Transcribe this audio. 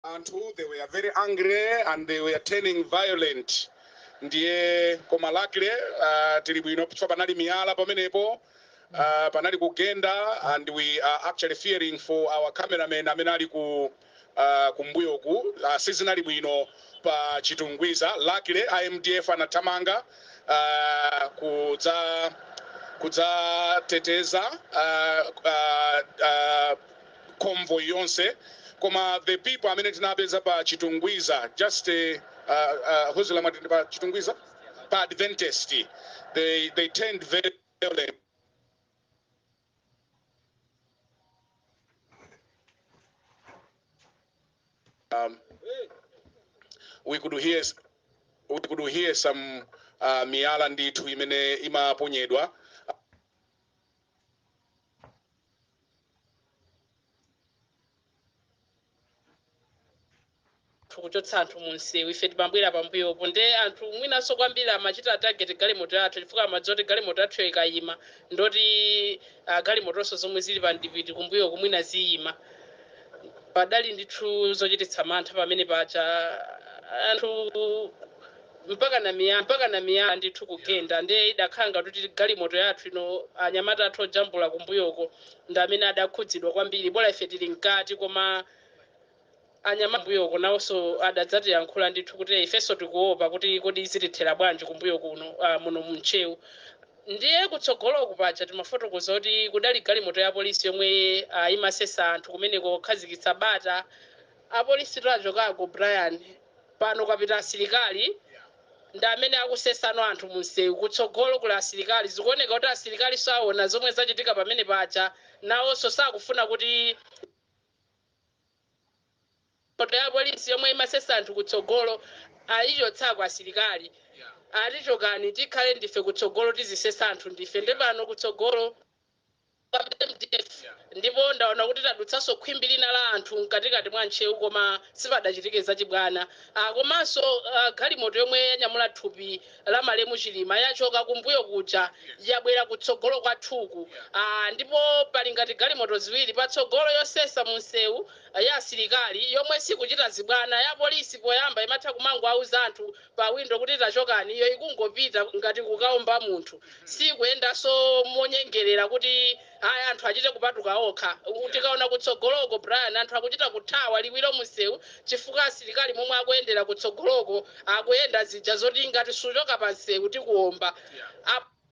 anthu they were very angry and they were turning violent ndiye koma luckily uh, tili bwinopo chifukwa panali miyala pamenepo uh, panali kugenda and we are actually fearing for our cameraman amene ali ku uh, kumbuyoku uh, sizinali bwino pa chitungwiza luckily a MDF anathamanga uh, kudza kudzateteza uh, uh, uh, convoy yonse koma the people amene tinapeza pa chitungwiza just eh, uh, uh, ujeni mwati ndi pa chitungwiza pa adventist they, they turned very violent. um, we could hear s- we could hear some uh, miyala ndithu imene imaponyedwa akuchotsa anthu mu msewu ife timabwera pambuyopo nde anthu mwinanso kwambiri amachita target galimoto yathu chifukwa amadziwa kuti galimoto yathuyo ikayima ndoti uh, galimotonso zomwe zili pa mdipiti kumbuyoku mwina ziyima padali ndithu zochititsa mantha pamene paja anthu mpakana miyala mpakana miyala ndithu kugenda nde idakhala ngati kuti galimoto yathu ino anyamata athu ojambula kumbuyoko ndi amene adakhudzidwa kwambiri bola ife tili mkati koma anyamata kumbuyoko nawonso adadzatiyankhula ndithu kuti ifenso tikuopa kuti kodi zitithera bwanji kumbuyo kuno ah, muno mu Ntcheu ndiye kutsogoloku paja timafotokoza kuti kudali galimoto ya polisi yomwe ah, imasesa anthu kumeneko kukhazikitsa bata apolisi tu achokako brian Pano kwapita asilikali. Ndi amene akusesano anthu mumsewu. Kutsogolo kuli asilikali. Zikuoneka kuti asirikalinso aona zomwe zachitika pamene paja. Nawonso sakufuna kuti galimoto ya apolisi yomwe imasesa anthu kutsogolo ayichotsako asilikali. Ati chokani tikhale ndife kutsogolo tizisesa anthu ndife. Nde pano kutsogolo MDF ndipo ndaona kuti tadutsanso khwimbi lina la anthu mkatikati mwa Ntcheu koma sipadachitike zachibwana ah komanso ah galimoto yomwe yanyamula thupi la malemu Chilima yachoka kumbuyo kuja yabwera kutsogolo kwathuku ah ndipo pali ngati galimoto ziwiri patsogolo yosesa munsewu ya asilikali yomwe sikuchita zibwana ya polisi poyamba imatha kumangowauza anthu pawindo kuti tachokani, iyo ikungopita ngati kukaomba munthu, siykuyendanso monyengerera kuti, Ayi, anthu achite kupatuka okha. U, tikaona kutsogoloko, Brian, anthu akuchita kuthawa liwiro mu msewu chifukwa asirikali momwe akuyendera kutsogoloko, akuyenda, zija zoti ngati suchoka pa msewu tikuomba. Yeah. Apo.